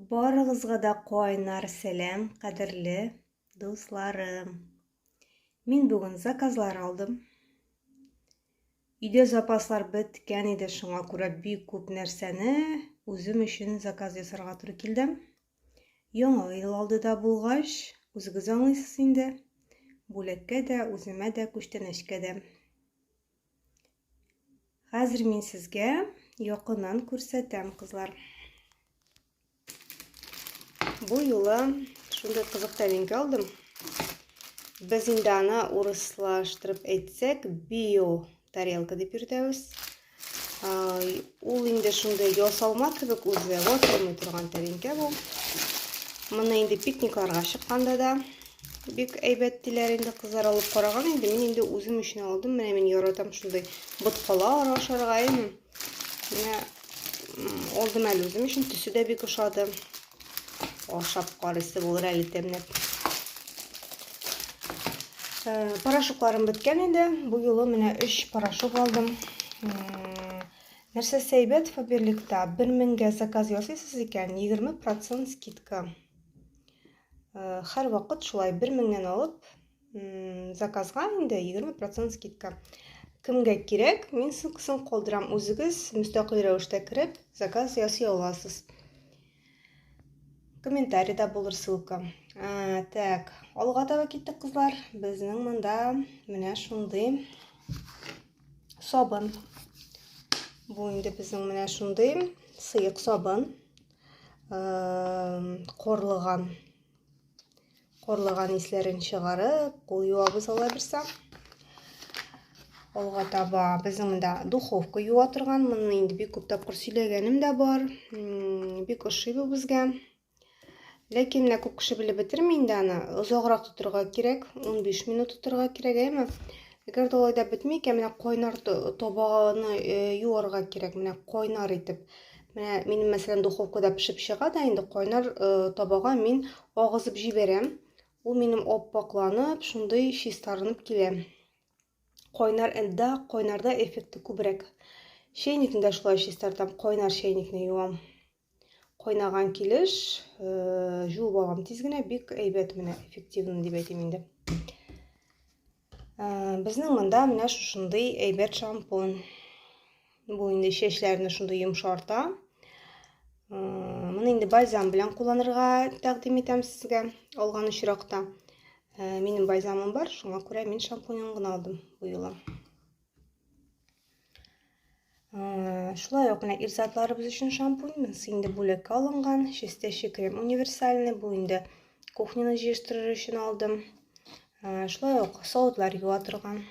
Барыгызга да кайнар сәлам, кадерле дусларым. Мин бүген заказлар алдым. Өйдә запаслар беткән иде, шуңа күрә бик күп нәрсәне үзем өчен заказ ясарга туры килде. Яңа ел алды да булгач, үзегез аңлыйсыз инде. Бүләккә дә, үземә дә, күчтәнәчкә дә. Хәзер мин сезгә якыннан күрсәтәм, кызлар. Бу юлы шундый кызык тәлинкә алдым. Без инде аны урыслаштырып әйтсәк, био тарелка дип йөртәбез. Ул инде шундый ясалма кебек үзе, ватылмый торган тәлинкә бу. Моны инде пикникларга чыкканда да Бик әйбәт диләр инде кызлар алып караган инде. Мин инде үзем өчен алдым. Менә мин яратам шундый боткала ашарга инде. Менә алдым әле үзем өчен. Төсе дә бик ошады. Ашап карыйсы булыр әле тәмләп. Э, порошокларым беткән инде. Бу юлы менә 3 порошок алдым. Нәрсә сәйбәт Фаберликта 1000 меңгә заказ ясыйсыз икән, 20% скидка. һәрвакыт шулай бер меңнән алып заказга инде егерме процент скидка кемгә кирәк мин ссылкасын калдырам үзегез мөстәкыйль рәвештә кереп заказ ясый аласыз комментарийда булыр ссылка ә, так алга таба киттек кызлар безнең монда менә шундый сабын бу инде безнең менә шундый сыек сабын корлыган корлыган исләрен чыгарып кул юабыз алай булса алга таба безнең монда духовка юа торган моны инде бик күп тапкыр сөйләгәнем дә бар бик ошый бу безгә ләкин менә күп кеше белеп бетерми инде аны озаграк тотырга кирәк 15 минут тотырга кирәк әйме Әгәр дә алай да бетми икән, менә кайнар табаны э, юарга кирәк, менә кайнар итеп. Менә минем мәсәлән духовкада пешеп чыга да инде кайнар э, табага мин агызып җибәрәм. Ул минем оппакланып, шундый чистарынып килә. Кайнар энда, кайнарда эффекты күбрәк. Чәйникне дә шулай чистартам, кайнар чәйникне юам. Кайнаган килеш э, жуып алам тиз генә, бик әйбәт менә, эффективный дип әйтим инде. Безнең монда менә шушындый әйбәт шампунь. Бу инде чәчләрне шундый йомшарта. Моны инде бальзам белән кулланырга тәкъдим итәм сезгә алган очракта. Минем бальзамым бар, шуңа күрә мин шампуньын гына алдым бу юлы. Шулай ук менә ир затларыбыз өчен шампунь. Монысы инде бүләккә алынган. Чистящий крем универсальный. Бу инде кухняны җыештырыр өчен алдым. Шулай ук савытлар юа торган.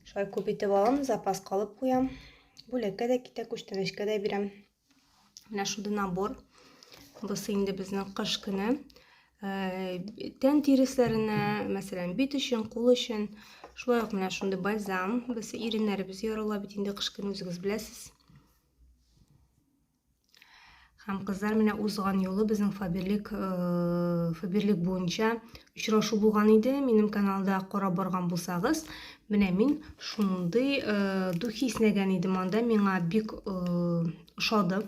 Шулай күп итеп алам, запас калып куям. Бүләккә дә китә, күчтәнәчкә дә бирәм. Менә шундый набор. Бусы инде безнең кыш көне. Э, тән тирисләренә, мәсәлән, бит өчен, кул өчен. Шулай ук менә шундый бальзам. Без иреннәребез ярыла бит инде кыш көне үзегез беләсез. Һәм кызлар менә узган юлы безнең Фаберлик э, Фаберлик буенча очрашу булган иде. Минем каналда карап барган булсагыз, менә мин шундый э, духи снәгән идем анда. Миңа бик э, ошады.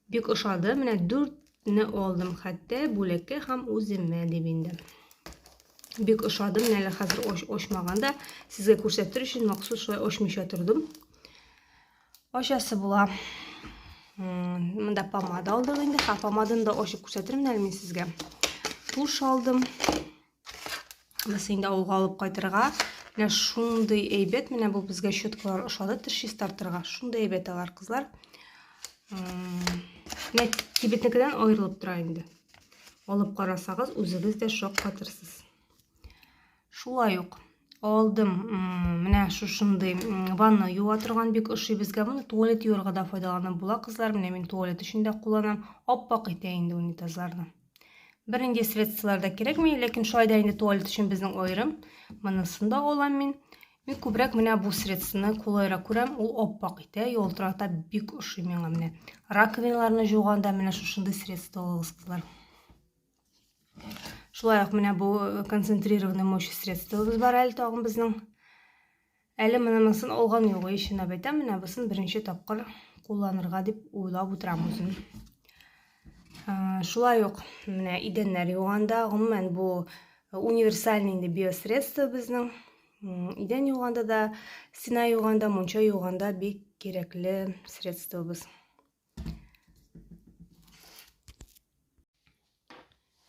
Бик ошады. Менә 4 не алдым хәтта бүләккә һәм үземә дип инде. Бик ошады. Менә әле хәзер оч, очмаганда сезгә күрсәтер өчен махсус шулай очмыйча тордым. Ачасы була. Монда помада алдык инде. Ха, помаданы да ачып күрсәтермен әле мин сезгә. Туш алдым. Без инде авылга алып кайтырга. Менә шундый әйбәт, менә бу безгә щеткалар ошады, теш чистартырга. Шундый әйбәт алар, кызлар. Менә кибетнекедән аерылып тора инде. Алып карасагыз, үзегез дә шок катырсыз. Шулай ук алдым менә шушындый ванна юа торган бик ошый безгә моны туалет юырга да файдаланып була кызлар менә мин туалет өчен дә кулланам аппак итә инде унитазларны бернинди средстволар да кирәкми ләкин шулай да инде туалет өчен безнең аерым монысын да алам мин мин күбрәк менә бу средствоны кулайрак күрәм ул аппак итә ялтырата бик ошый миңа менә раковиналарны жуганда менә шушындый средство алыгыз кызлар Шулай ук менә бу э, концентрированный мощь средствобыз бар әле тагын безнең. Әле монысын алган юк, ишен әйтәм, менә бусын беренче тапкыр кулланырга дип уйлап утырам үзем. Э, шулай ук менә идәннәр юганда, гомумән бу э, универсальный инде биосредство безнең. Идән юганда да, стена юганда, мунча юганда бик кирәкле средствобыз.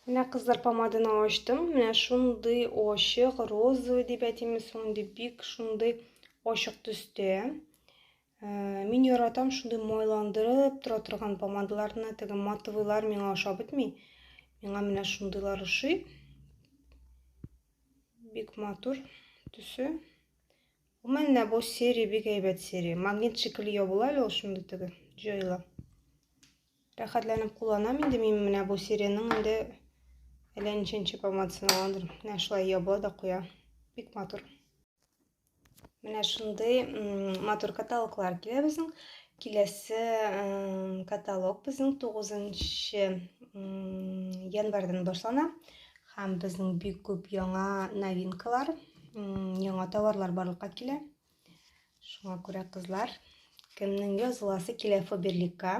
Менә кызлар помаданы ачтым. Менә шундый ачык, розовый дип әйтимме соң инде, бик шундый ачык төстә. Э, мин яратам шундый майландырып тора торган помадаларны, теге матовыйлар миңа ашап бетми. Миңа менә шундыйлар ошый. Бик матур төсе. У менә бу серия бик әйбәт серия. Магнит шикелле ябыла әле ул шундый теге җайлы. Рәхәтләнеп кулланам инде мин менә бу сериянең инде әллә ничәнче помадсын алгандыр. Менә шулай ябыла да куя. Бик матур. Менә шундый матур каталоглар килә безнең. Киләсе каталог безнең 9 январьдан башлана. Һәм безнең бик күп яңа новинкалар, яңа товарлар барлыкка килә. Шуңа күрә кызлар, кемнең языласы килә Фаберликка,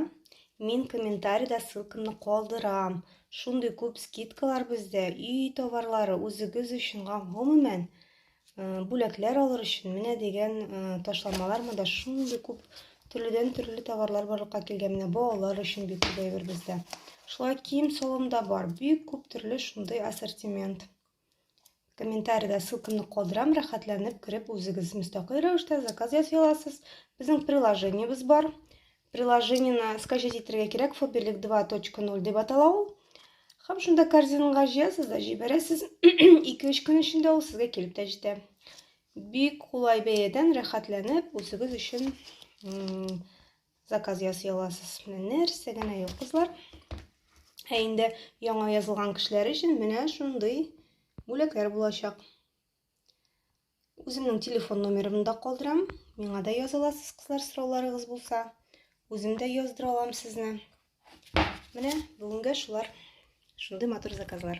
мин комментарида ссылкамны калдырам. Шундый күп скидкалар бездә, өй товарлары, үзегез өчен гомумән Бүләкләр алыр өчен менә дигән ташламалар монда шундый күп төрледән төрле товарлар барлыкка килгән. Менә балалар өчен бик күп әйбер бездә. Шулай кием салым да бар. Бик күп төрле шундый ассортимент. Комментариядә ссылкамны калдырам, рәхәтләнеп кереп үзегез мөстәкыйль рәвештә заказ ясый аласыз. Безнең приложениебез бар. Приложениене скачать итәргә кирәк, Фоберлик 2.0 дип атала ул. Һәм шунда корзинага җыясыз да җибәрәсез. 2-3 көн эчендә ул сезгә килеп тә җитә. Бик кулай бәядән рәхәтләнеп үзегез өчен заказ ясый аласыз. Менә нәрсә генә юк, кызлар. Ә инде яңа язылган кешеләр өчен менә шундый бүләкләр булачак. Үземнең телефон номерымны да калдырам. Миңа да яза аласыз, кызлар, сорауларыгыз булса. Үзем дә яздыра алам сезне. Менә бүгенгә шулар. Шундый матур заказлар.